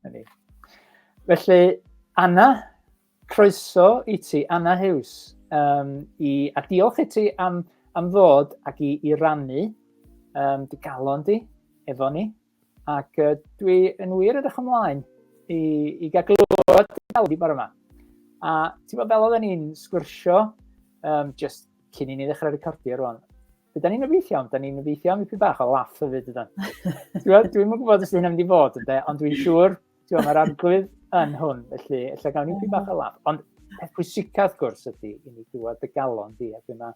Hynny. Felly, Anna, croeso i ti, Anna Hughes, um, i, a diolch i ti am, am ddod ac i, i rannu um, dy galon di efo ni. Ac uh, dwi yn wir edrych ymlaen i, i gael glywed dy galon di bore yma. A ti'n bod fel oedden ni'n sgwrsio, um, just cyn i ni ddechrau recordio rwan, Byddwn ni'n obeithio, iawn, da ni'n obeithio am ipyn bach o laff o fyd ydan. Dwi'n mwyn gwybod os hyn am mynd i fod ynde, ond dwi'n siŵr, ti'n mae'r arglwydd yn hwn, felly lle gawn ni ipyn bach o laff. Ond peth pwysicaf, wrth gwrs, ydy i ni glywed dy galon di, a dyma,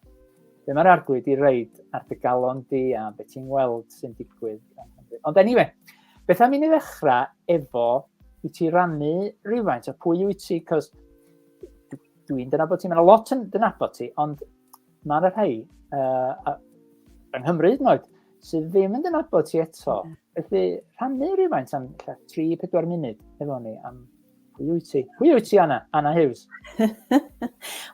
dyma'r mae arglwydd i reid ar dy galon di a beth ti'n gweld sy'n digwydd. Ond anyway, beth am i ni ddechrau efo i ti rannu rhywfaint o pwy wyt ti, cos dwi'n dyna bod ti, mae'n lot yn dyna bod ti, ond Mae yna rhai uh, yng Nghymru hyd yn oed sydd ddim yn dynabod ti eto. Mm. Felly rhannu rhywfaint am 3-4 munud efo ni am pwy wyt ti? Pwy wyt ti, Anna? Anna Hughes.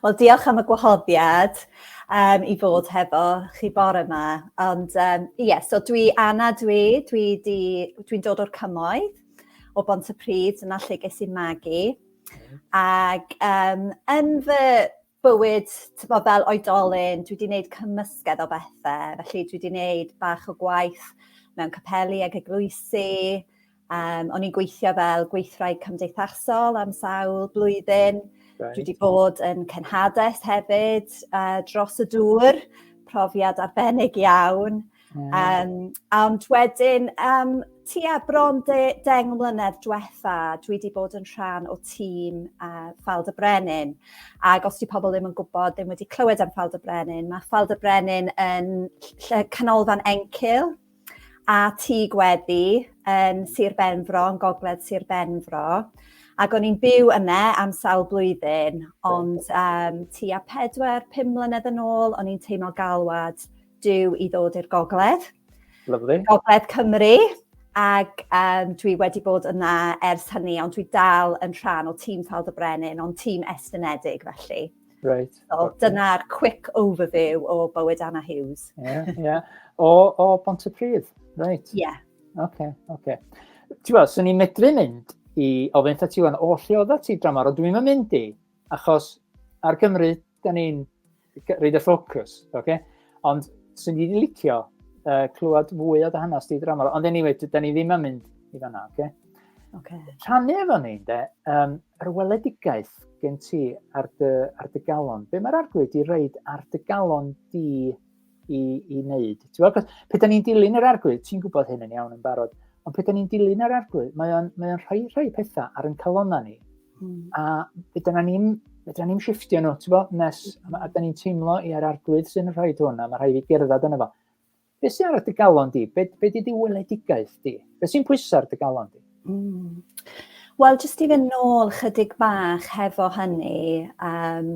Wel, diolch am y gwahoddiad um, i fod hefo chi bore yma. Ond ie, um, yeah, so dwi Anna dwi, dwi di, dwi'n dod o'r cymoedd o Bont y Pryd, yna lle ges i magu. Mm. Ac um, yn fy bywyd, tibod, fel oedolyn, dwi wedi gwneud cymysgedd o bethau, felly dwi wedi gwneud bach o gwaith mewn capeli ac eglwysi, um, o'n i'n gweithio fel gweithraig cymdeithasol am sawl blwyddyn, right. dwi wedi bod yn cenhades hefyd uh, dros y dŵr, profiad arbennig iawn, Mm. Um, ond wedyn, um, tua bron de, deng mlynedd diwetha, dwi wedi bod yn rhan o tîm uh, Ffald y Brenin. Ac os di pobl ddim yn gwybod, ddim wedi clywed am Ffald y Brenin, mae Ffald y Brenin yn canolfan encil a tŷ gweddi yn Sir Benfro, yn gogledd Sir Benfro. Ac o'n i'n byw yna am sawl blwyddyn, ond um, tua 4-5 mlynedd yn ôl, o'n i'n teimlo galwad Dw i ddod i'r gogledd. Lovely. Gogledd Cymru. Ac um, dwi wedi bod yna ers hynny, ond dwi dal yn rhan o tîm Taldd y Brenin, ond tîm estynedig felly. Right. So, okay. Dyna'r quick overview o bywyd Anna Hughes. yeah, yeah. O, o Bont y Pryd, right. Yeah. Okay, okay. Ti'n gweld, swn i'n medru mynd i ofyn ta ti o'n oll i oedda ti dramor, ond dwi'n mynd i, achos ar Gymru da ni'n reid y ffocws, oce? Okay? Ond sy'n ni'n licio uh, clywed fwy o dy hanes di dramor. Ond anyway, da ni ddim yn mynd i fanna, oce? Okay? Okay. Rhannu efo ni, de, um, yr weledigaeth gen ti ar dy, ar dy galon. Be mae'r arglwydd di reid ar dy galon di i, i wneud. Ti'n gwybod, pe da ni'n dilyn yr arglwydd, ti'n gwybod hyn yn iawn yn barod, ond pe da ni'n dilyn yr arglwydd, mae o'n, mae o'n rhoi rhai pethau ar yn calona ni. Mm. A pe da ni'n fedra ni'n shiftio nhw, ti'n bod, nes, a, a da ni'n teimlo i ar arglwydd sy'n rhoi hwn, a mae rhai fi gerdded yna fo. Be sy'n ar y galon di? Be, be di di weledigaeth di? Be sy'n pwysau ar y galon di? Mm. Wel, jyst i fynd nôl chydig bach hefo hynny, um,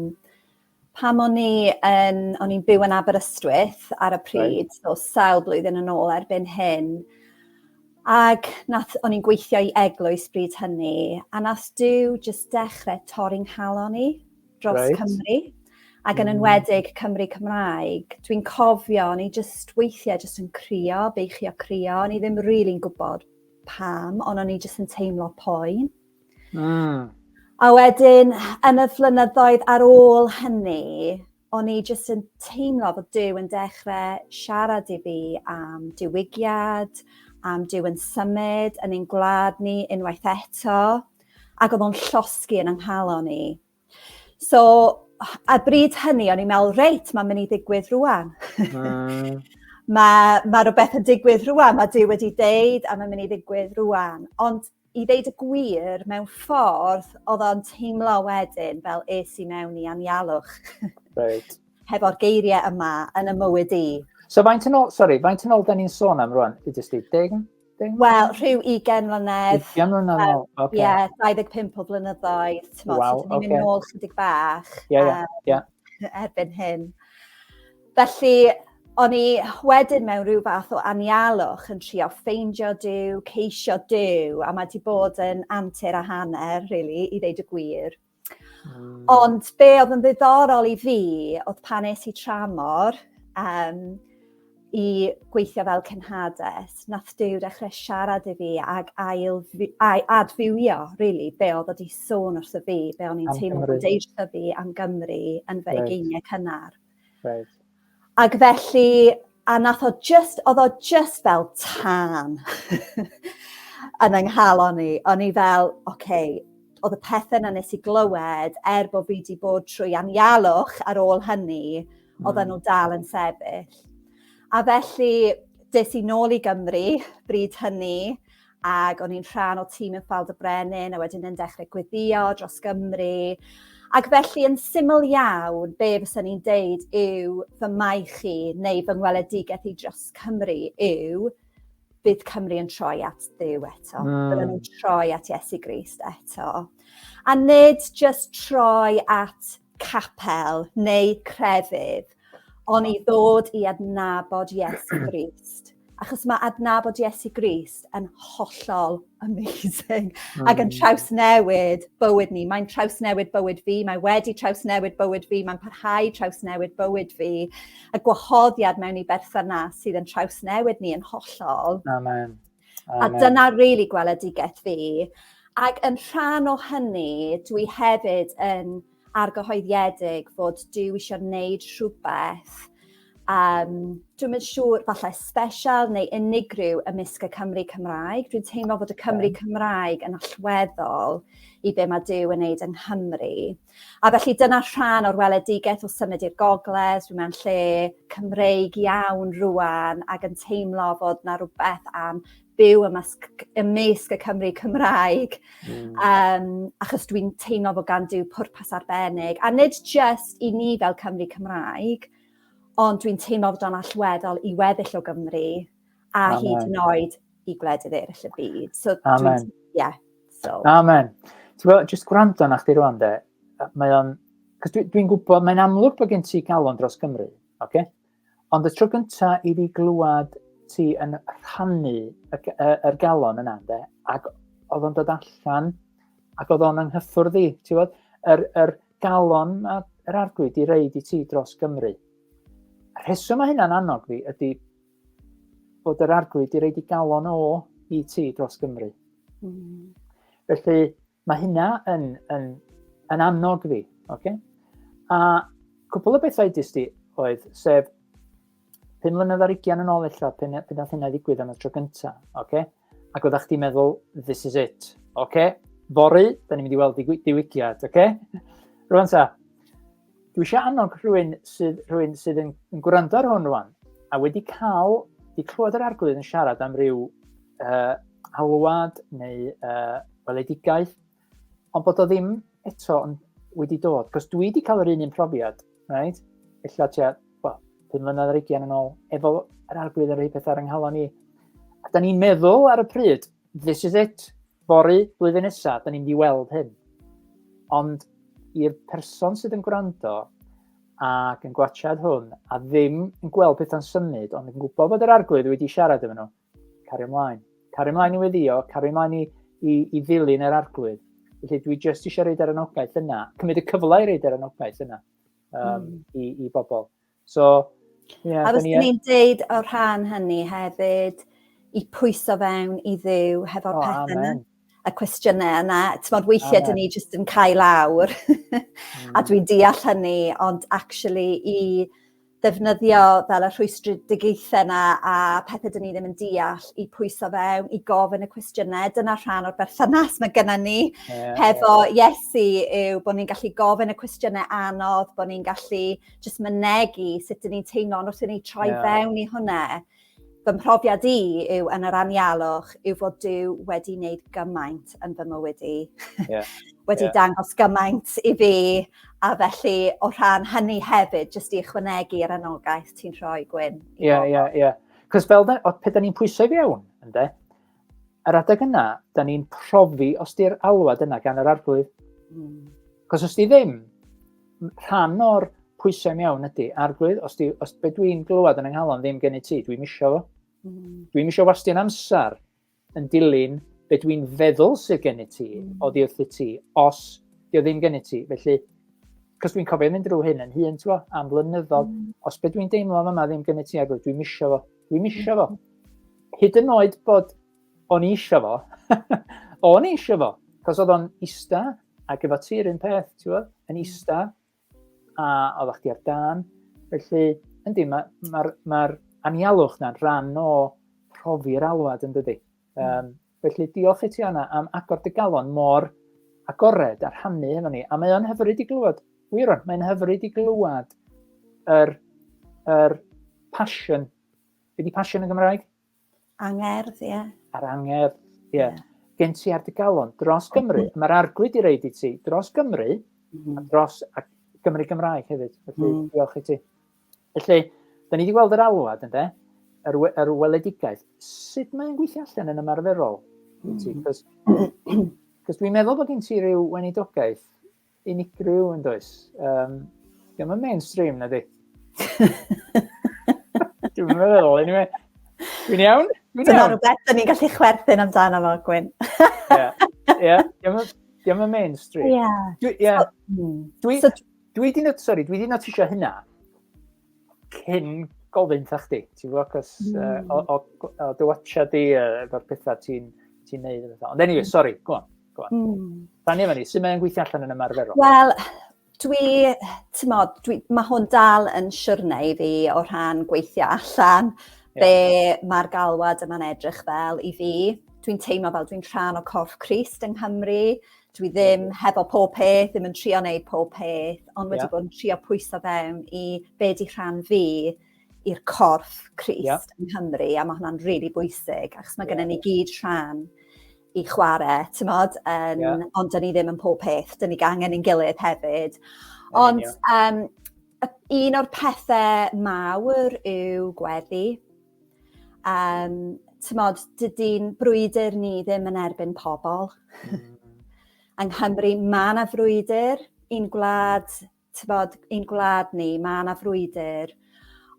Pam o'n i yn... O'n i'n byw yn Aberystwyth ar y pryd, so sawl blwyddyn yn ôl erbyn hyn. Ac nath... O'n i'n gweithio i eglwys bryd hynny, a nath Duw jyst dechrau torri 'nghalon i dros... Reit. ...Cymru, ac yn enwedig Cymry Cymraeg. Dwi'n cofio o'n i jyst weithiau jyst yn crio, beichio crio, o'n i ddim rili'n gwbod pam, ond o'n i jyst yn teimlo poen. Mm. A wedyn, yn y flynyddoedd ar ôl hynny, o'n i jyst yn teimlo bod Dyw yn dechrau siarad i fi am diwygiad, am Dyw yn symud yn ein gwlad ni unwaith eto, ac oedd o'n llosgi yn yng nghalon i. So, a bryd hynny, o'n i'n meddwl, reit, mae'n mynd i ddigwydd rwan. Mm. mae, mae rhywbeth yn digwydd rwan, mae Dyw wedi deud a mae'n mynd i ddigwydd rwan. Ond i ddeud y gwir, mewn ffordd, oedd o'n teimlo wedyn fel es i mewn i anialwch. Right. Hefo'r geiriau yma yn y mywyd i. So faint yn ôl, sorry, faint yn ôl da ni'n sôn am rwan? I jyst i, deg? Wel, rhyw 20 mlynedd. 20 mlynedd yn ôl, oce. Ie, 25 o flynyddoedd, ti'n modd, wow, ni'n mynd nôl chydig bach. Ie, ie, ie. Erbyn hyn. Felly, o'n i wedyn mewn rhyw fath o anialwch yn trio ffeindio Dyw, ceisio Dyw, a mae di bod yn antur a hanner, really, i ddeud y gwir. Ond be oedd yn ddiddorol i fi oedd pan es i tramor um, i gweithio fel cynhades, nath Dyw dechrau siarad i fi ag ail adfywio, really, be oedd wedi sôn wrth y fi, be o'n i'n teimlo bod eisiau fi am Gymru yn fy egeiniau cynnar. Reit. Ac felly a nath o jyst o'dd o jyst fel tân yn 'y nghalon i o'n i fel oce o'dd y pethe 'na nes i glywed er bo' fi 'di bod trwy anialwch ar ôl hynny oddan hmm. n'w dal yn sefyll. A felly des i nôl i Gymru bryd hynny ac o'n i'n rhan o tîm yn Ffald y Brenin a wedyn yn dechrau gweddio dros Gymru. Ac felly yn syml iawn, be fysa ni'n deud yw fy mai chi neu fy ngweledigaeth i dros Cymru yw bydd Cymru yn troi at ddew eto. Mm. Byddwn ni'n troi at Iesu Grist eto. A nid just troi at capel neu crefydd, ond i ddod i adnabod Iesu Grist achos mae adnabod Iesu Grist yn hollol amazing mm. ac yn hmm. trawsnewid bywyd ni. Mae'n trawsnewid bywyd fi, mae wedi trawsnewid bywyd fi, mae'n parhau trawsnewid bywyd fi. A gwahoddiad mewn i berthynas sydd yn trawsnewid ni yn hollol. Amen. Amen. A dyna rili really gweledigaeth fi. Ac yn rhan o hynny, dwi hefyd yn argyhoeddiedig fod Duw eisiau gwneud rhywbeth, um, dwi'n mynd siŵr, falle special neu unigryw ymysg y Cymru Cymraeg. Dwi'n teimlo fod y Cymru Cymraeg yn allweddol i be mae Duw yn neud yng Nghymru. A felly dyna rhan o'r weledigaeth o symud i'r gogledd, dwi'n meddwl lle Cymreig iawn rwan ac yn teimlo fod na rhywbeth am byw ymysg, ymysg y Cymru Cymraeg, mm. um, achos dwi'n teimlo bod gan dyw pwrpas arbennig, a nid just i ni fel Cymru Cymraeg, ond dwi'n teimlo bod o'n allweddol i weddill o Gymru, a Amen. hyd yn oed i gwledydd eraill y byd. So, Amen. Yeah, so. Amen. Ti'n gwybod, jyst gwrando na chdi rwan de, mae o'n... Cos dwi'n dwi gwybod, mae'n amlwg bod gen ti galon dros Gymru, oce? Okay? Ond y tro gynta i fi glywed ti yn rhannu y, y, yr galon yna, de, ac oedd o'n dod allan, ac oedd o'n anghyffwrdd i, ti fod, yr, yr galon a yr arglwydd di reid i ti dros Gymru. Y rheswm mae hynna'n annog fi ydy bod yr arglwydd di reid i galon o i ti dros Gymru. Mm. Felly, Mae hynna yn, yn, yn annog fi, oce? Okay? A cwpl o bethau dys di oedd, sef, pum mlynedd ar ugian yn ôl eich pen, pen oedd hynna ddigwydd am y tro gyntaf, oce? Okay? Ac oeddech chdi'n meddwl, this is it, oce? Okay? Fory, da ni'n mynd i weld diwygiad, oce? Okay? Rwy'n sa, Dwi eisiau annog rhywun sydd, rhywun sydd yn, yn gwrando ar hwn rwan, a wedi cael, wedi clywed yr arglwydd yn siarad am ryw uh, alwad neu uh, weledigaeth, ond bod o ddim eto yn wedi dod. Cos dwi wedi cael yr un un profiad, right? Ella tua, well, pum mlynedd ar ugian yn ôl, efo yr arglwydd yn rhoi pethau ar yng nghalon ni. A da ni'n meddwl ar y pryd, This is it. Fory, blwyddyn nesa, da ni'n mynd i weld hyn. Ond i'r person sydd yn gwrando ac yn gwachad hwn a ddim yn gweld pethau'n symud ond yn gwybod bod yr arglwydd wedi siarad efo nhw, cario ymlaen. Cario ymlaen i weddio, cario ymlaen i, i, i ddilyn yr arglwydd. Felly dwi jyst eisiau reid ar anogaeth yna, cymryd y cyfle i reid ar anogaeth yna um, mm. i, i bobl. So, yeah, a fyswn i'n deud o rhan hynny hefyd, i pwyso fewn i ddiw hefo'r oh, pethau yna, y cwestiynau yna. Tymod, weithiau dyn ni jyst yn cael awr, mm. a dwi'n deall hynny, ond actually i ddefnyddio fel y rhwystredigaethau yna a pethau dyn ni ddim yn deall i pwyso fewn, i gofyn y cwestiynau. Dyna rhan o'r berthynas mae gennym ni yeah, hefo yeah. Iesu yw bod ni'n gallu gofyn y cwestiynau anodd, bod ni'n gallu jyst mynegu sut dyn ni'n teimlo'n wrth i ni troi yeah. fewn i hwnna. Fy mhrofiad i yw yn yr anialwch yw fod Dyw wedi wneud gymaint yn fy mywyd i. Yeah. wedi yeah. dangos gymaint i fi a felly o rhan hynny hefyd jyst i ychwanegu yr anogaeth ti'n rhoi Gwyn. Ie, ie, ie. Cos fel da, pe da ni'n pwysau fewn, ynddo, Yr adeg yna, da ni'n profi os di'r alwad yna gan yr arglwydd. Mm. Cos os di ddim, rhan o'r pwysau mewn ydy, arglwydd, os, di, os be dwi'n glywed yn ynghalon ddim gen i ti, dwi'n misio fo. Mm. Dwi'n misio wastio'n amser yn dilyn be dwi'n feddwl sydd gen i ti, mm. o ddi wrth i ti, os di o ddim gen i ti. Felly, cos dwi'n cofio mynd drwy hyn yn hun, ti'n am flynyddoedd, mm. os be dwi'n deimlo yma ddim gen i ti, arglwydd, dwi'n misio fo. Dwi'n eisiau fo. Hyd yn oed bod o'n eisiau fo, o'n eisiau fo, cos oedd o'n ista ac efo ti yr un peth, ti'n fawr, yn hmm. ista, a oedd chdi ar dan. Felly, yndi, mae'r ma, ma, ma anialwch na'n rhan o profi'r alwad yn dydy. Um, Felly, diolch i ti Anna am agor dy galon mor agored a rhannu hefo ni. A mae o'n hyfryd i glywed, wir o'n, mae'n hyfryd i glywed yr, yr passion. Be di passion yn Gymraeg? Angerdd, ie. Yeah. A'r angerdd, ie. Yeah. Yeah. Gen ti ar dy galon dros Gymru. Mm. Mae'r arglwydd i reid i ti dros Gymru mm. a dros a Gymru Gymraeg hefyd. Felly, mm. diolch i ti. Felly, da ni wedi gweld yr alwad, ynddo? Yr, we, yr weledigaeth. Sut mae'n gweithio allan yn ymarferol? Cos mm. dwi'n meddwl bod gen ti rhyw wenidogaeth unigryw yn does. Um, Diolch yn mainstream, na di? Dwi'n meddwl, anyway. Dwi'n iawn? Dwi'n iawn. rhywbeth, dyn ni'n gallu chwerthin amdano fo, Gwyn. Ie, ie. Diolch yn mainstream. Ie. Ie. Hmm. Dwi... So, Dwi di not, sorry, dwi di notisio hynna cyn gofyn ta chdi, ti'n fawr, cos mm. uh, o, o, o dy watcha di, uh, efo'r pethau ti'n ti neud. Ond anyway, mm. sorry, go on, go on. Mm. Rhan efo ni, sy'n mae'n gweithio allan yn ymarferol? Wel, dwi, ti'n modd, dwi, mae hwn dal yn siwrne i fi o rhan gweithio allan yeah. be mae'r galwad yma'n edrych fel i fi. Dwi'n teimlo fel dwi'n rhan o corff Christ yng Nghymru, dwi ddim hefo pob peth, ddim yn trio wneud pob peth, ond wedi yeah. bod yn trio pwyso fewn i be di rhan fi i'r corff Christ yeah. yng Nghymru, a mae hwnna'n rili really bwysig, achos mae yeah. gennym ni gyd rhan i chwarae, ti'n modd, um, yeah. ond dyn ni ddim yn pob peth, dyn ni gangen i'n gilydd hefyd. Ond um, un o'r pethau mawr yw gweddi, Um, tymod, dydy'n brwydr ni ddim yn erbyn pobl. Mm. Yng Nghymru, mae yna frwydr i'n gwlad, tymod, i'n gwlad ni, mae yna frwydr,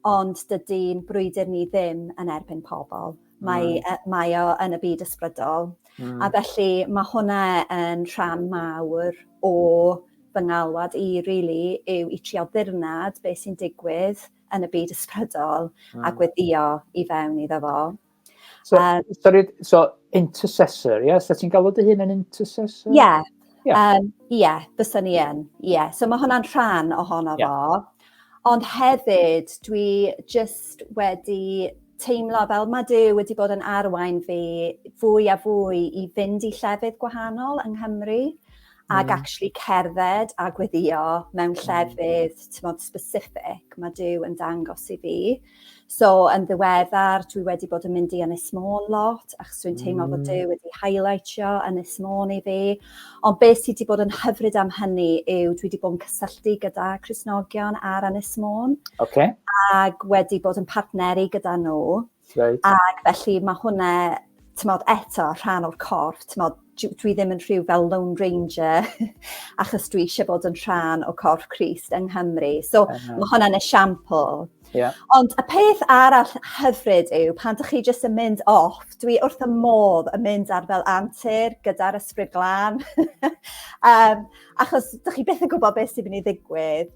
ond dydy'n brwydr ni ddim yn erbyn pobl. Mae, mm. uh, mae o yn y byd ysbrydol. Mm. A felly mae hwnna yn rhan mawr o fy ngalwad i, really, yw i trio ddirnad beth sy'n digwydd yn y byd ysbrydol mm. a gweddio i fewn iddo fo. So, um, sorry, so intercessor, ie? Yeah? So ti'n galw dy hun yn intercessor? Ie, yeah. yeah. um, yeah, bysa ni yn. Ie, yeah. so mae hwnna'n rhan ohono yeah. fo. Ond hefyd, dwi just wedi teimlo fel mae Dyw wedi bod yn arwain fi fwy a fwy i fynd i llefydd gwahanol yng Nghymru. ag mm. actually cerdded a gweddio mewn mm. llefydd tymod specific mae Dyw yn dangos i fi. So yn ddiweddar dwi wedi bod yn mynd i Ynys Môn lot achos dwi'n teimlo mm. bod Dyw wedi highlightio Ynys Môn i fi. Ond beth sydd wedi bod yn hyfryd am hynny yw dwi wedi bod yn cysylltu gyda Cresnogion ar Ynys Môn. Okay. Ac wedi bod yn partneru gyda nhw. Right. Ac felly mae hwnna, tymod, eto rhan o'r corff, tymod, dwi ddim yn rhyw fel Lone Ranger achos dwi eisiau bod yn rhan o corff Christ yng Nghymru. So uh -huh. mae hwnna'n esiampl. Yeah. Ond y peth arall hyfryd yw pan dych chi jyst yn mynd off, dwi wrth y modd yn mynd ar fel antur gyda'r ysbryd glan. um, achos dych chi beth yn gwybod beth sy'n mynd i ddigwydd.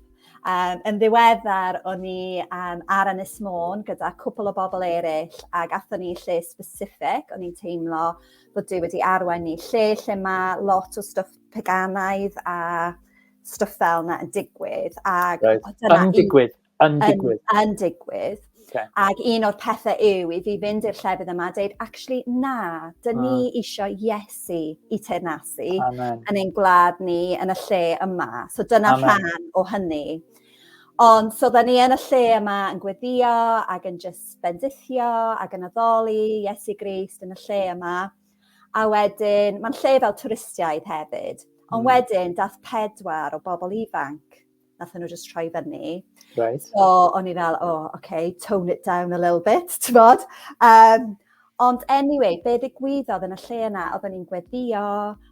Um, yn ddiweddar, o'n i um, ar Ynys Môn gyda cwpl o bobl eraill ac athon ni lle specific, o'n i'n teimlo bod Dyw wedi arwain ni lle lle mae lot o stwff peganaidd a stwff fel yna yn digwydd. Ac right. dyna yn digwydd, yn digwydd. Yn, yn digwydd. Okay. Ac un o'r pethau yw i fi fynd i'r llefydd yma a dweud, actually, na, dyn ni ah. eisiau Iesu i teirnasu Amen. yn ein gwlad ni, yn y lle yma. So dyna Amen. rhan o hynny. Ond so dda ni yn y lle yma yn gweddio ac yn just bendithio ac yn addoli Iesu Grist yn y lle yma. A wedyn, mae'n lle fel twristiaid hefyd. Ond hmm. wedyn, dath pedwar o bobl ifanc nathon nhw jyst troi fyny. Right. So o'n i fel, oh, okay, tone it down a little bit, ti'n bod? Um, ond anyway, be ddigwyddodd yn y lle yna, oedden ni'n gweddio,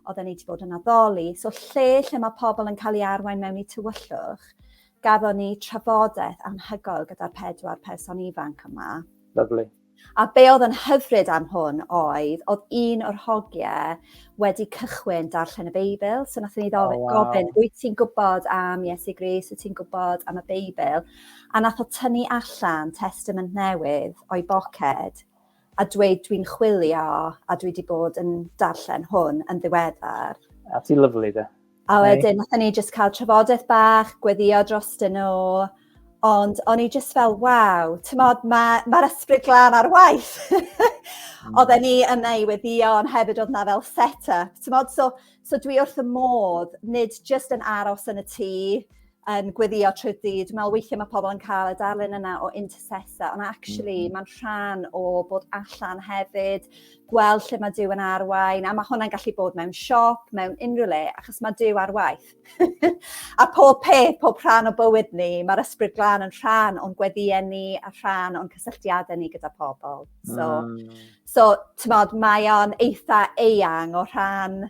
oedden ni wedi bod yn addoli, so lle lle mae pobl yn cael ei arwain mewn i tywyllwch, gafon ni trafodaeth anhygoel gyda'r pedwar person ifanc yma. Lovely. A be oedd yn hyfryd am hwn oedd, oedd un o'r hogie wedi cychwyn darllen y Beibl, so nath ni ddo- oh, wow. gofyn, wyt ti'n gwybod am Iesu Gris, wyt ti'n gwybod am y Beibl? A nath o tynnu allan testament newydd o'i boced a dweud dwi'n chwilio a dwi wedi bod yn darllen hwn yn ddiweddar. A ti lyflu de. A wedyn, nath ni jyst cael trafodaeth bach, gweddio dros dyn nhw, ond o'n i jyst fel, waw, tymod, mae'r ma, ma ysbryd glan ar waith. Hmm. Oedden ni yna i weddio, ond hefyd oedd na fel set-up. Tymod, so, so dwi wrth y modd, nid jyst yn aros yn y tŷ, yn gweddio trwy'r dydd. Dwi'n meddwl weithiau mae pobl yn cael y darlun yna o intercessor, ond actually mm. mae'n rhan o bod allan hefyd, gweld lle mae Dyw yn arwain, a mae hwnna'n gallu bod mewn siop, mewn unrhyw le, achos mae Dyw ar waith. a pob peth, pob rhan o bywyd ni, mae'r ysbryd glân yn rhan o'n gweddiau ni a rhan o'n cysylltiadau ni gyda pobl. So, mm. so ti'n modd, mae o'n eitha eang o rhan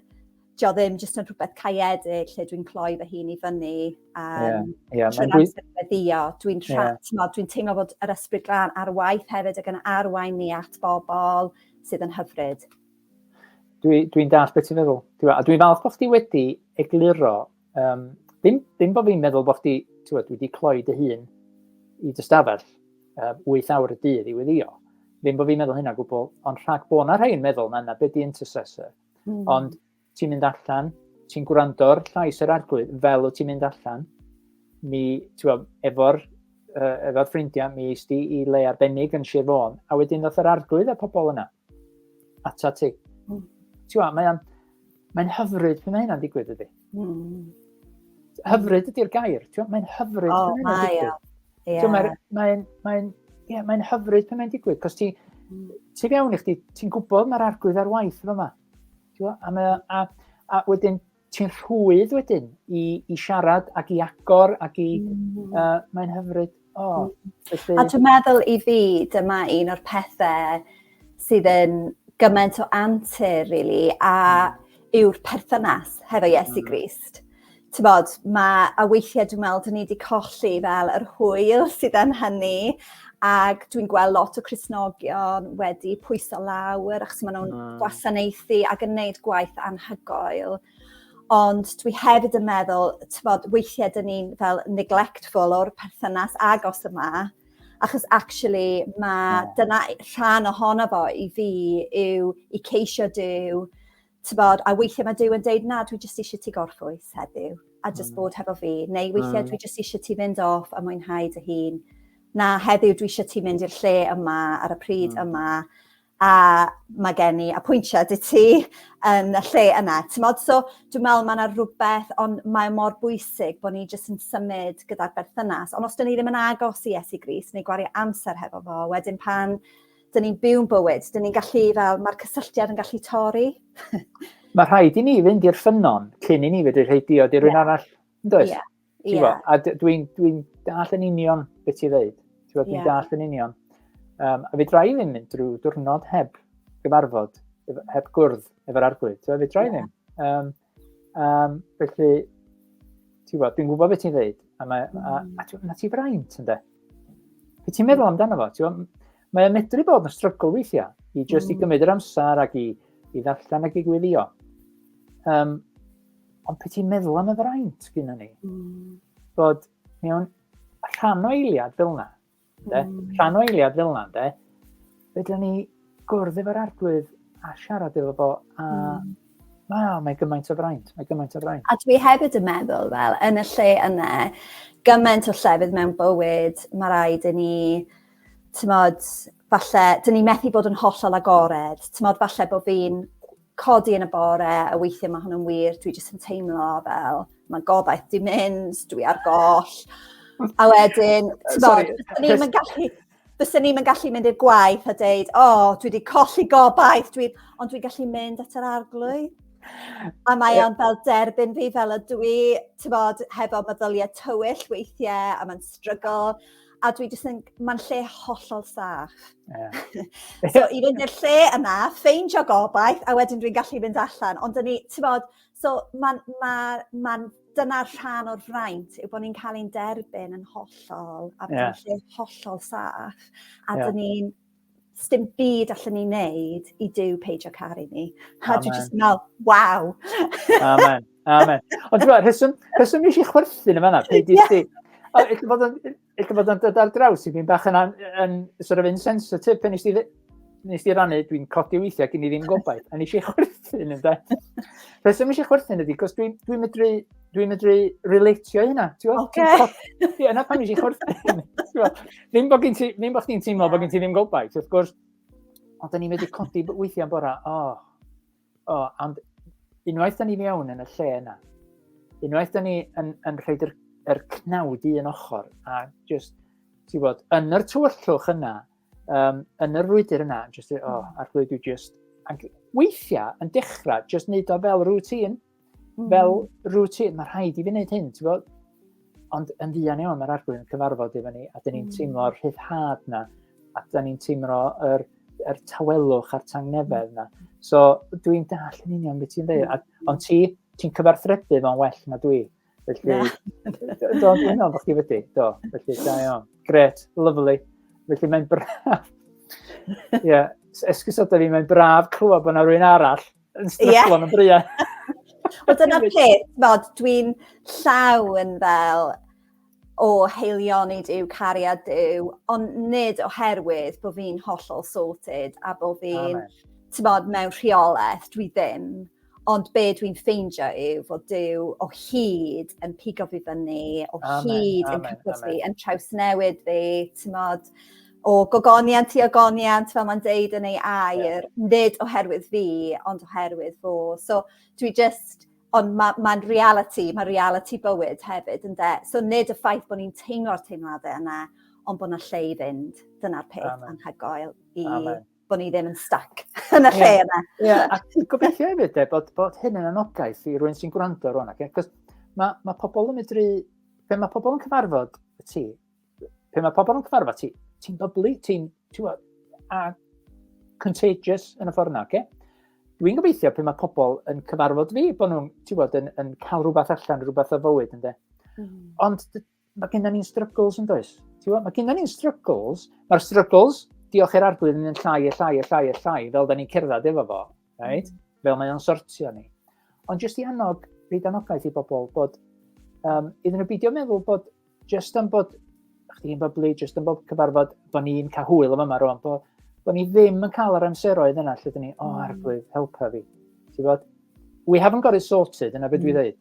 dio ddim jyst yn rhywbeth caeedig lle dwi'n cloi fy hun i fyny a yeah, yeah, trwy'r amser feddio, dwi'n yeah. dwi'n teimlo bod yr ysbryd glân ar waith hefyd ac yn arwain ni at bobl sydd yn hyfryd. Dwi'n dwi, dall beth ti'n meddwl. Dwi'n dwi falch bod chdi wedi egluro, um, ddim, ddim bod fi'n meddwl bod chdi, dwi wedi cloi dy hun i dy stafell um, 8 awr y dydd i weddio. Ddim bod fi'n meddwl hynna gwbl, ond rhag bod yna rhain meddwl na, na beth di intercessor. Mm. Ond ti'n mynd allan, ti'n gwrando'r llais yr arglwydd fel o ti'n mynd allan, mi, ti'n gwybod, efo'r uh, efo'r ffrindiau, mi eist i i le arbennig yn Sir Fôn, a wedyn ddoth yr arglwydd a pobl yna. Ata ti. Mm. Ti'n gwybod, mae'n mae hyfryd pan mae hynna'n digwydd ydy. Mm. Hyfryd ydy'r gair, ti'n mae'n hyfryd. O, oh, mae o. Yeah. Mae'n mae, mae, yeah, mae hyfryd pan mae'n digwydd, cos ti, mm. ti fewn i chdi, ti'n gwybod mae'r arglwydd ar waith efo yma. A, mae, a, a wedyn, ti'n rhwydd wedyn i, i siarad ac i agor ac i... Mm. Uh, mae'n hyfryd. O, felly... A dwi'n meddwl i fi, dyma un o'r pethau sydd yn gymaint o antur, really, a hmm. yw'r perthynas hefo Iesu hmm. Grist. Ti'n bod, mae, a weithiau dwi'n meddwl, dyn ni wedi colli fel yr hwyl sydd yn hynny, ac dwi'n gweld lot o Cresnogion wedi pwyso lawr, achos maen nhw'n hmm. gwasanaethu ac yn gwneud gwaith anhygoel. Ond dwi hefyd yn meddwl t'mod weithie 'dyn ni'n fel neglectful o'r perthynas agos yma achos actually ma' dyna e- rhan ohono fo i fi yw i ceisio Duw t'mod a weithie ma' Duw yn deud na dwi jyst isie ti gorffwys heddiw a jyst bod hefo fi neu weithie dwi jyst isie ti fynd off a mwynhau dy hun. Na heddiw dwi isie ti mynd i'r lle yma ar y pryd yma. a mae gen i apwyntiad i ti yn y lle yna. T'mod, so dwi'n meddwl mae yna rhywbeth, ond mae o mor bwysig bod ni jyst yn symud gyda'r berthynas. Ond os dan ni ddim yn agos i Iesu Grist neu gwario amser hefo fo, wedyn pan dan ni'n byw'n bywyd, dan ni'n gallu fel, mae'r cysylltiad yn gallu torri. mae rhaid i ni fynd i'r ffynnon cyn i ni fedru rhoi diod i rhywun yeah. arall, yn does? Yeah. Ti'n yeah. gwybod? A dwi'n dwi, dall yn union beth ti'n dweud. Ti'n gwybod, dwi'n yeah. dall yn union. Um, a fe dra i ddim mynd drwy diwrnod heb gyfarfod, heb gwrdd efo'r arglwydd. Ti'n gwybod, fe dra i ddim. Um, um, felly, ti'n gwybod, dwi'n gwybod beth ti'n dweud. A, mae, mm. a, a, a, na ti fraint, ynddo? Fe ti'n meddwl amdano fo? Ti'n gwybod, mae'n medru bod yn strygl weithiau i just mm. i gymryd yr amser ac i, i ddarllen ac i gwylio. Um, ond pe ti'n meddwl am y fraint gyda ni, mm. bod mewn rhan o eiliad fel yna, de? Mm. rhan o eiliad fel yna, de? fedra ni gwrdd efo'r arglwydd a siarad efo fo, a mm. Wow, mae gymaint o fraint, mae gymaint o fraint. A dwi hefyd yn meddwl, fel, yn y lle yna, gymaint o llefydd mewn bywyd, mae rhaid i ni, tymod, falle, dyn ni methu bod yn hollol agored, tymod, falle bod fi'n codi yn y bore a weithiau mae hwnnw'n wir, dwi jyst yn teimlo fel, mae gobaith di mynd, dwi ar goll. A wedyn, ti'n bod, ni'n mynd gallu, fysa ni'n mynd gallu mynd i'r gwaith a deud, o, oh, dwi wedi colli gobaith, dwi, ond dwi'n gallu mynd at yr arglwydd. A mae o'n fel derbyn fi fel y dwi, ti'n bod, hefo meddyliau tywyll weithiau, a mae'n strygol. a dwi jyst yn... Mae'n lle hollol saff. Yeah. so i fynd i'r lle yna, ffeindio gobaith, a wedyn dwi'n gallu fynd allan. Ond dyn ni, ti'n bod, so mae'n... Ma, ma, dyna'r rhan o'r fraint yw bod ni'n cael ein derbyn yn hollol a bod yeah. lle hollol saff. A yeah. dyn ni'n sdim byd allan ni wneud i Dyw peidio caru ni. A dwi jyst yn meddwl, waw! Amen, amen. Ond dwi'n rheswm, rheswm nes i chwerthin yma na, peidio yeah. sti. Ella bod o'n, ella bod o'n dod ar draws i fi'n bach yn, yn sort of insensitive pen nes ti, nes ti rannu, dwi'n codi weithiau gen i ddim gobaith, a nes i chwerthin yn da. Rheswm nes i chwerthin ydy, cos dwi'n dwi medru dwi'n medru relatio i hynna. Ti'n gwybod? Okay. Ie, yna pan eisiau chwrdd. Ddim bod gen ti, ddim bod chdi'n teimlo bod gen ti ddim gobaith, wrth gwrs. Ond da ni'n medru codi weithiau yn bora, o, oh, o, oh, ond unwaith da ni mewn yn y lle yna, unwaith da ni yn, yn rhaid yr, yr cnawd i un ochr, a just, ti'n bod, yn yr tywyllwch yna, um, yn yr rwydr yna, just, o, oh, hmm. ar dwi just, ac weithiau yn dechrau, just neud o fel rŵtîn, Mm. Fel routine, mae rhaid i fi wneud hyn, ti'n bod? Ond yn ddian iawn, mae'r arglwydd yn cyfarfod efo ni, a dyn ni'n mm. teimlo'r rhyddhad na, a dyn ni'n teimlo'r er, er tawelwch a'r tangnefedd na. So, dwi'n dall yn union beth ti'n dweud. Mm. Ond ti, ti'n cyfarthrebu fo'n well na dwi. Felly, do, dwi'n meddwl bod chi wedi, do. Felly, da iawn. Gret, lovely. Felly, mae'n braf. Ie, yeah. esgus o da fi, mae'n braf clywed bod yna rhywun arall yn stryglo'n y briau. Wel, dyna peth, fod dwi'n llaw yn fel o heilioni Dyw, cariad Dyw, ond nid oherwydd bod fi'n hollol sorted a bod fi'n, ti'n bod, mewn rheolaeth, dwi ddim. Ond be dwi'n ffeindio yw fod Duw o hyd yn pigo fi fyny, o amen, hyd amen, yn cyfod fi, yn trawsnewid fi, ti'n modd, o gogoniant i ogoniant, fel mae'n deud yn ei air, yeah. nid oherwydd fi, ond oherwydd fo. So dwi just, ond mae'n ma, ma reality, mae reality bywyd hefyd, ynddo. So nid y ffaith bod ni'n teimlo'r teimladau yna, ond bod yna lle i fynd. Dyna'r peth Amen. anhygoel i Amen. bod ni ddim yn stuck yn y lle yeah. yna. Ie, yeah. a ti'n gobeithio hefyd e, bod, bod hyn yn anogaeth i rwy'n sy'n gwrando rwan. Okay? Cos mae, mae pobl yn medru, pe mae pobl yn cyfarfod y ti, pe mae pobl yn cyfarfod ti, ti'n byblu, ti'n, ti'n a contagious yn y ffordd yna, okay? Dwi'n gobeithio pe mae pobl yn cyfarfod fi, bod nhw'n, ti'n bod, yn, yn cael rhywbeth allan, rhywbeth o fywyd, ynddo. Mm. Ond mae gennym ni'n struggles yn does. Mae gennym ni'n struggles, mae'r struggles, diolch i'r arglwydd, yn llai a llai a llai a llai, fel da ni'n cerdded efo fo, right? Mm. fel mae o'n sortio ni. Ond jyst i annog, rhaid anogaeth i bobl, bod um, iddyn nhw beidio meddwl bod jyst am bod chdi'n byblu, jyst am bod cyfarfod, bod ni'n cael hwyl am yma rwan, bod, bod ni ddim yn cael yr amseroedd yna lle dyn ni, o, oh, arglwydd, helpa fi. Ti'n bod? We haven't got it sorted, yna beth mm. dwi ddweud.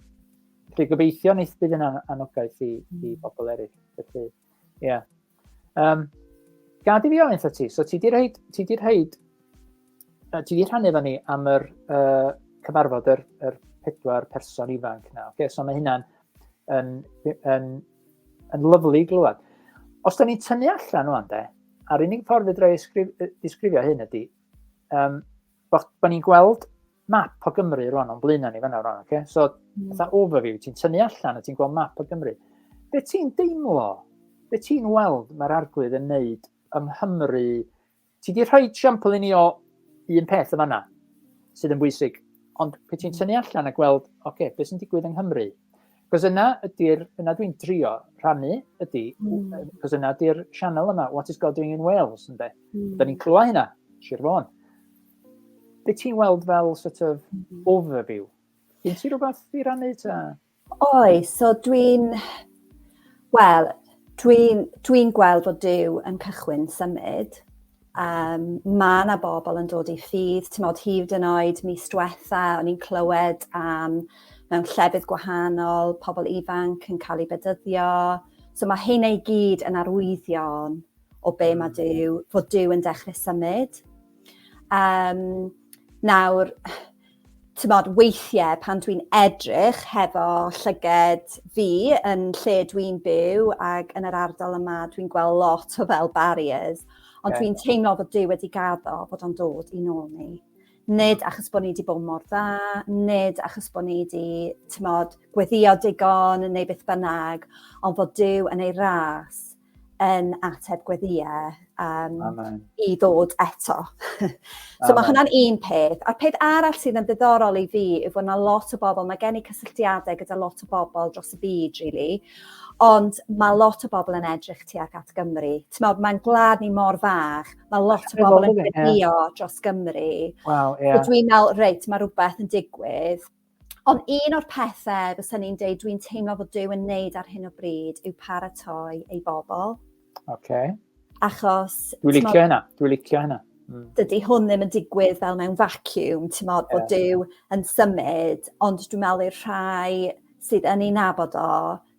Felly gobeithio wneith bydd yn anogaeth i, mm. i bobl eraill. Felly, ie. Yeah. Um, gad i fi ofyn wrth ti, so ti di rhaid, ti di rhaid, uh, ti di rhannu efo ni am yr uh, cyfarfod yr, yr pedwar person ifanc na. Okay, so mae hynna'n yn, yn, yn, yn lyflu glwad. Os da ni'n tynnu allan o'n de, a'r unig ffordd fydra i ddisgrifio hyn ydy, um, Bo, bo ni'n gweld map o Gymru rwan o'n blaenau ni fanna rwan, okay? So, mm. fatha overview, ti'n tynnu allan a ti'n gweld map o Gymru. Be ti'n deimlo? Be ti'n weld mae'r arglwydd yn neud yng Nghymru? Ti di rhoi siampl i ni o un peth y fanna sydd yn bwysig, ond pe ti'n mm. tynnu allan a gweld, oce, okay, beth sy'n digwydd yng Nghymru? Cos yna ydy'r, yna dwi'n trio rhannu, ydy, mm. cos yna ydy'r sianel yma, What is God doing in Wales, ynddo. Mm. Da ni'n clywed hynna, Sir Fôn. Be ti'n weld fel sort of mm. overview? Yn ti rhywbeth i rannu ta? Oi, so dwi'n... Wel, dwi'n dwi gweld bod Dyw yn cychwyn symud. Um, mae yna bobl yn dod i ffydd, ti'n modd hyd yn oed mis diwetha, o'n i'n clywed am mewn llefydd gwahanol, pobl ifanc yn cael ei bedyddio. So mae hyn ei gyd yn arwyddion o be mae hmm. Dyw, fod Dyw yn dechrau symud. Um, nawr, Timod, weithiau pan dwi'n edrych hefo llyged fi yn lle dwi'n byw ac yn yr ardal yma, dwi'n gweld lot o fel barriers, ond yeah. dwi'n teimlo bod Dyw wedi gaddo bod o'n dod i nôl ni. Nid achos bod ni wedi bod mor dda, nid achos bod ni wedi, tymod, gweddio digon neu beth bynnag, ond bod Dyw yn ei ras yn ateb gweddiau um, Amen. i ddod eto. so mae hwnna'n un peth. A'r peth arall sydd yn ddiddorol i fi yw bod yna lot o bobl, mae gen i cysylltiadau gyda lot o bobl dros y byd, really, ond mae lot o bobl yn edrych tu ac at Gymru. Ti'n meddwl, mae'n gwlad ni mor fach, mae lot o bobl yn gweddio dros Gymru. Wow, yeah. So dwi'n meddwl, reit, mae rhywbeth yn digwydd, Ond un o'r pethe fysa ni'n deud dwi'n teimlo fod Duw yn neud ar hyn o bryd yw paratoi ei bobl. Oce. Achos... Dwi'n licio hynna, dwi'n licio hynna. Mm. Dydy hwn ddim yn digwydd fel mewn vacuum, ti'n modd bod Duw yn symud, ond dwi'n meddwl i'r rhai sydd yn ei nabod o,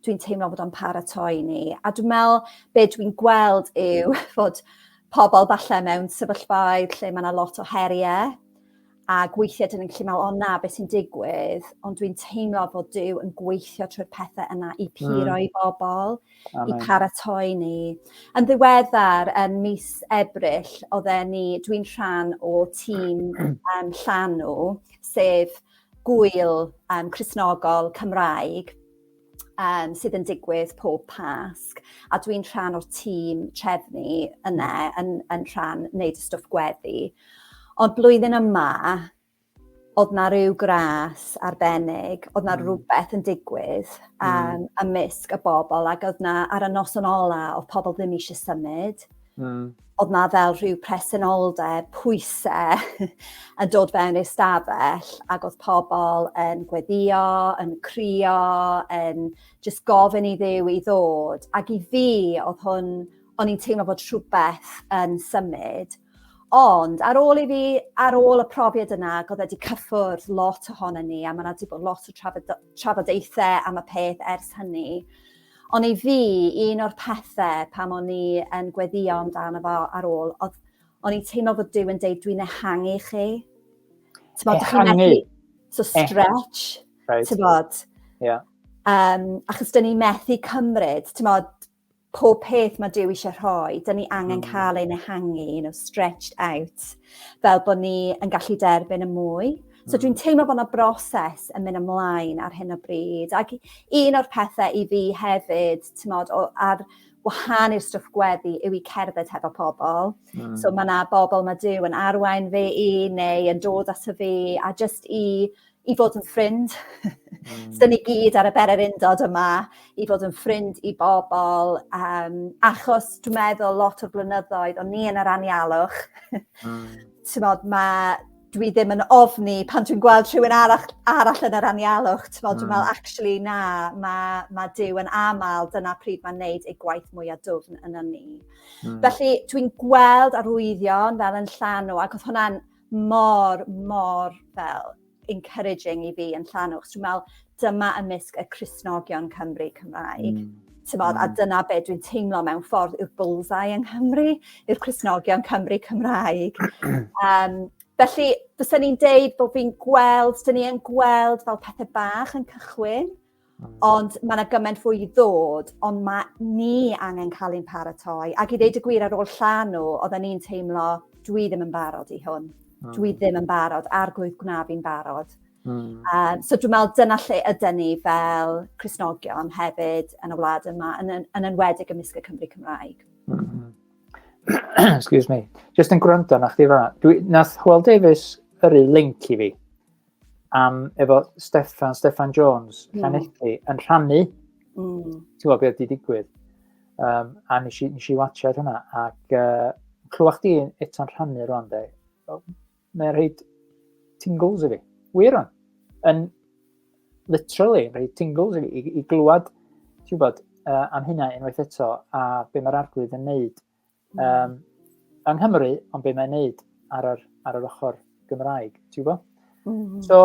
dwi'n teimlo bod o'n paratoi ni. A dwi'n meddwl be dwi'n gweld yw fod pobl falle mewn sefyllfaoedd lle mae yna lot o heriau Ac weithiau dyn ni'n gallu meddwl, o na, beth sy'n digwydd? Ond dwi'n teimlo fod Dyw yn gweithio trwy'r pethau yna i puro mm. i bobl, Amen. i paratoi ni. Yn ddiweddar, yn mis Ebrill, oedden ni, dwi'n rhan o tîm um, llanw, sef gwyl um, Cresnogol Cymraeg, um, sydd yn digwydd pob Pasg, a dwi'n rhan o'r tîm trefnu yna yn, yn rhan wneud y stwff gweddi. Ond blwyddyn yma, oedd na rhyw gras arbennig, oedd na mm. rhywbeth yn digwydd um, mm. ymysg y bobl ac oedd na ar y noson ola oedd pobl ddim eisiau symud. Mm. oedd na fel rhyw presenoldeb, pwysau yn dod fewn i'r stafell ac oedd pobl yn gweddio, yn crio, yn just gofyn i ddew i ddod ac i fi oedd hwn, o'n i'n teimlo bod rhywbeth yn symud. Ond ar ôl i fi, ar ôl y profiad yna, ac oedd wedi cyffwrdd lot ohono ni a mae yna wedi bod lot o trafodaethau am y peth ers hynny, Ond i fi, un o'r pethe pam o'n i yn gweddio amdano fo ar ôl, oedd o'n i'n teimlo fod Dyw yn deud, dwi'n ehangu chi. Ti'n bod, chi'n methu... So stretch, right. ti'n bod. Yeah. Um, achos dyn ni methu cymryd, ti'n bod, pob peth mae Dyw eisiau rhoi, dyn ni angen mm. cael ein ehangu, you know, stretched out, fel bod ni yn gallu derbyn y mwy. So hmm. dwi'n teimlo bod yna broses yn mynd ymlaen ar hyn o bryd. Ac un o'r pethau i fi hefyd, ti'n modd, ar wahan i'r stwff gweddi yw i cerdded hefo pobl. Mm. So mae yna bobl mae Dyw yn arwain fe i neu yn dod at y fi a just i, i fod yn ffrind. Mm. so ni gyd ar y berer undod yma i fod yn ffrind i bobl um, achos dwi'n meddwl lot o'r blynyddoedd o'n ni yn yr anialwch. mm. Tymod, mae dwi ddim yn ofni pan dwi'n gweld rhywun arall arall yn yr anialwch t'mod dwi'n me'wl hmm. actually na ma' ma' Duw yn amal dyna pryd mae'n neud ei gwaith mwyaf dwfn yn ni. Mm. Felly dwi'n gweld arwyddion fel yn llanw ac oedd hwnna'n mor mor fel encouraging i fi yn llanw achos dwi'n me'wl dyma ymysg y Cristnogion Cymru Cymraeg. Mm. Tymod, mm. A dyna be dwi'n teimlo mewn ffordd yw'r bullseye yng Nghymru, yw'r Cristnogion Cymru Cymraeg. um, felly, fysa ni'n deud bod fi'n gweld, dyn ni yn gweld fel pethau bach yn cychwyn, mm. ond mae yna gymaint fwy i ddod, ond mae ni angen cael ein paratoi. Ac i ddeud y gwir ar ôl llanw, oedden ni'n teimlo, dwi ddim yn barod i hwn. Mm. Dwi ddim yn barod, a'r gwydd gwna fi'n barod. Mm. Um, so dwi'n meddwl dyna lle ydy ni fel Cresnogion hefyd yn y wlad yma, yn, yn, yn enwedig ymysg y Cymru Cymraeg. Mm -hmm. Excuse me. Just yn gwrando na chdi fanna. Dwi, nath Hwel Davies yrru link i fi am efo Stefan, Stefan Jones, mm. Llanelli, yn rhannu. Mm. Ti'n gwybod beth di digwydd. Um, a nes i, nes i watchad hwnna. Ac uh, clywach di eto'n rhannu rwan, de. Mae'n rhaid tingles i fi. Wir on. Yn literally rhaid tingles i fi. I, i glwad, ti'n gwybod, uh, am hynna unwaith eto a be mae'r arglwydd yn neud. Um, yng Nghymru, ond be mae'n neud ar yr, ar yr ochr Gymraeg, ti'n gwybod? Mm. So,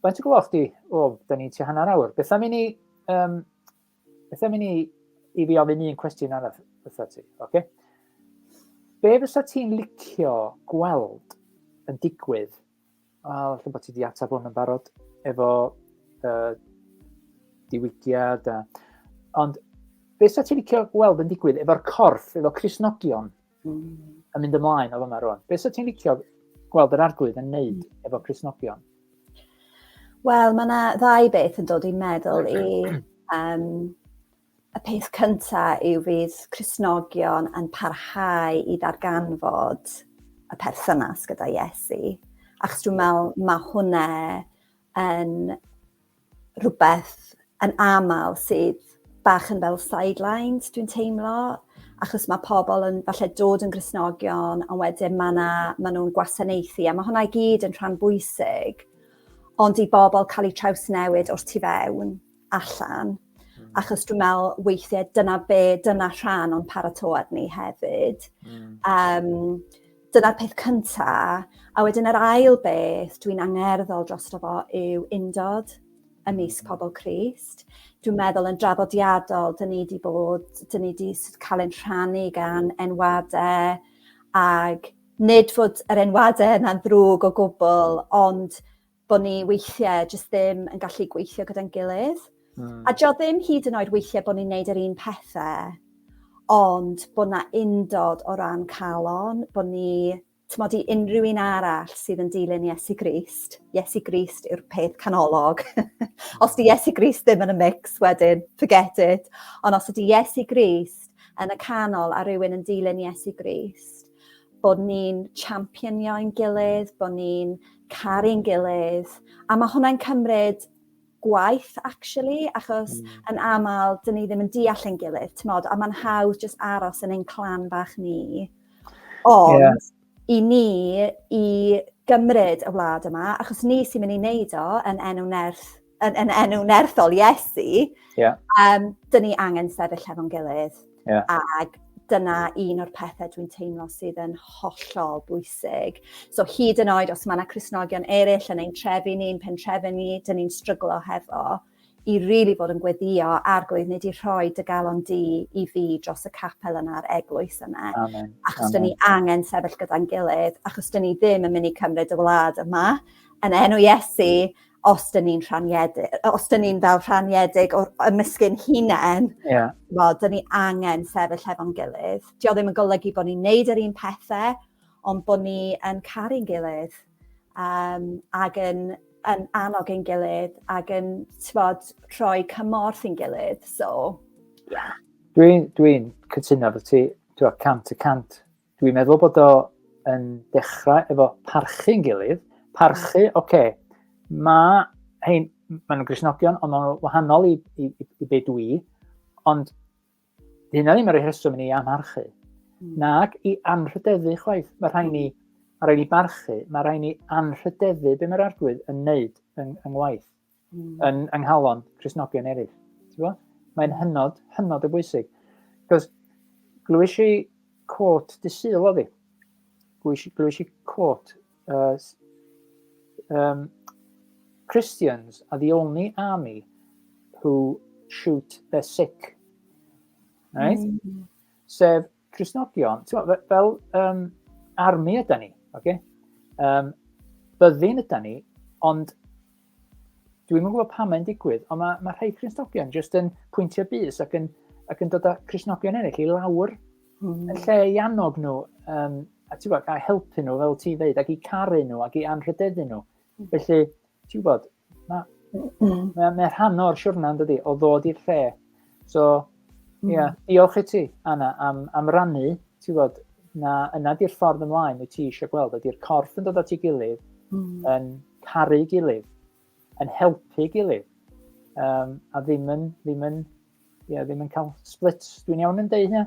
faint o gloch di? O, da ni'n ti hanner awr. Beth am i ni um, Beth am i ni i fi ofyn un cwestiwn arall wrtho ti, oce? Okay? Be fysa ti'n licio gweld yn digwydd? Wel, lle bod ti wedi ateb hwn yn barod efo uh, diwygiad a... Ond be fysa ti'n licio gweld yn digwydd efo'r corff, efo Crisnogion? yn mynd ymlaen o fyma rwan. Beth sy'n ti'n licio gweld yr arglwydd yn neud hmm. efo Cresnogion? Wel, mae yna ddau beth yn dod i'n meddwl i... Um, y peth cyntaf yw fydd Cresnogion yn parhau i ddarganfod y perthynas gyda Iesu. Achos dwi'n meddwl mae hwnna yn rhywbeth yn aml sydd bach yn fel sidelines, dwi'n teimlo, achos mae pobl yn falle dod yn grisnogion, ond wedyn mae yna, maen nhw'n gwasanaethu, a mae hwnna i gyd yn rhan bwysig, ond i bobl cael eu traws newid o'r tu fewn, allan, mm. achos dwi'n meddwl weithiau dyna be, dyna rhan o'n paratoad ni hefyd. Mm. Um, Dyna'r peth cynta, a wedyn yr ail beth dwi'n angerddol drosto fo yw undod ymysg pobl Crist. Dwi'n meddwl yn draddodiadol, dyn ni wedi bod, dyn ni wedi cael ein rhannu gan enwadau, ac nid fod yr enwadau yna'n ddrwg o gwbl, ond bod ni weithiau jyst ddim yn gallu gweithio gyda'n gilydd. Mm. A jo ddim hyd yn oed weithiau bod ni'n neud yr un pethau, ond bod na undod o ran calon, bod ni, tymod i unrhyw un arall sydd yn dilyn Iesu Grist, Iesu Grist yw'r peth canolog. os di Iesu Grist ddim yn y mix wedyn, forget it. Ond os ydi Iesu Grist yn y canol a rhywun yn dilyn Iesu Grist, bod ni'n championio'n gilydd, bod ni'n caru'n gilydd, a mae hwnna'n cymryd gwaith, actually, achos mm. yn aml, dyn ni ddim yn deall yn gilydd, ti'n modd, a mae'n hawdd just aros yn ein clan bach ni. Ond, yeah. i ni, i gymryd y wlad yma, achos ni sy'n mynd i wneud o yn enw nerth yn, yn enw nerthol Iesu, yeah. um, dyn ni angen sefyll hefo'n gilydd. Yeah. Ac dyna un o'r pethau dwi'n teimlo sydd yn hollol bwysig. So hyd yn oed os mae yna Cresnogion eraill yn ein trefi ni'n pentrefi ni, dyn ni'n stryglo hefo, i rili really fod yn gweddio a'r gwedd nid i rhoi dy galon di i fi dros y capel yna a'r eglwys yna. Amen. Achos dyn ni angen sefyll gyda'n gilydd, achos dyn ni ddim yn mynd i cymryd y wlad yma yn enw Iesu, os 'dyn ni'n rhaniedig yy os 'dyn ni'n fel rhaniedig o'r ymysgyn hunen... Ie. ...wel 'dyn ni angen sefyll hefo'n gilydd. 'Di o ddim yn golygu bo' ni'n neud yr un pethe ond bo' ni yn caru'n gilydd yym ag yn yn annog ein gilydd ag yn t'bod rhoi cymorth i'n gilydd so ie. Dwi'n dwi'n cytuno efo ti t'wo' cant y cant. Dwi'n meddwl bod o yn dechrau efo parchu'n gilydd. Parchu, oce, okay, mae hein, maen nhw'n grisnogion, ond maen nhw'n wahanol i, i, i, i be dwi, ond dyna ddim yr rheswm i ni amharchu. Mm. Nac i anrhydeddu chwaith. Mae rhaid ni, mae rhaid ni barchu, mae rhaid ni anrhydeddu be mae'r arglwydd yn wneud yn, yn ngwaith. mm. yn ynghalon Cresnogion eraill. Mae'n mm. hynod, hynod o bwysig. Cos glwys i cwrt dysil o fi. Glwys i cwrt uh, um, Christians are the only army who shoot their sick. Right? Mm. Sef, Crisnogion, ti'n meddwl, fel um, armi yda ni, oce? Okay? Um, byddin yda ni, ond dwi'n yn gwybod pam mae'n digwydd, ond mae, mae rhai Crisnogion jyst yn pwyntio bus ac yn, ac yn dod â Crisnogion ennill i lawr mm. yn lle i annog nhw, um, a ti'n gwybod, a helpu nhw fel ti'n dweud, ac i caru nhw, ac i anrhydeddu nhw. Mm. Felly, ti'n gwybod, Na. Mae'n mae rhan o'r siwrna, dydy, o ddod i'r lle. So, mm. yeah, diolch i ti, Anna, am, am rannu, ti'n bod, na, yna di'r ffordd ymlaen wyt ti eisiau gweld, ydy'r corff yn dod at ei gilydd, mm. yn caru gilydd, yn helpu gilydd, um, a ddim yn, ddim yn, yeah, ddim yn cael splits. Dwi'n iawn yn deud hynny?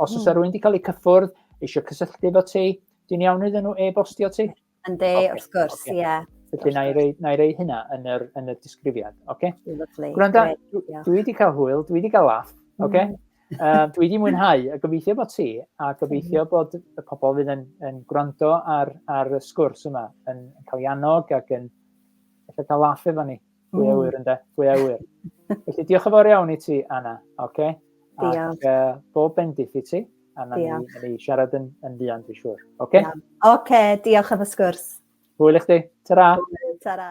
Os oes mm. rwy'n wedi cael eu cyffwrdd, eisiau cysylltu efo ti, dwi'n iawn iddyn nhw e-bostio ti? Yn de, okay. wrth gwrs, ie. Okay. Yeah. Felly, na i rei, na i rei hynna yn yr, yn y disgrifiad. Okay? Lovely. Gwranda, dwi, dwi wedi cael hwyl, dwi wedi cael laff. Okay? Mm. Uh, dwi wedi mwynhau a gobeithio bod ti a gobeithio mm. bod y pobl fydd yn, yn gwrando ar, ar y sgwrs yma yn, yn cael ei annog ac yn efallai cael laff efo ni. Pwy a wyr ynde? Pwy a wyr? Felly diolch yn fawr iawn i ti, Anna. Okay? Diolch. Ac uh, bob bendith i ti. A na ni, ni siarad yn, yn fuan, dwi'n siŵr. Oce? Okay? Oce, okay, diolch am y sgwrs. Hwyl i chdi. Ta-ra. Ta-ra.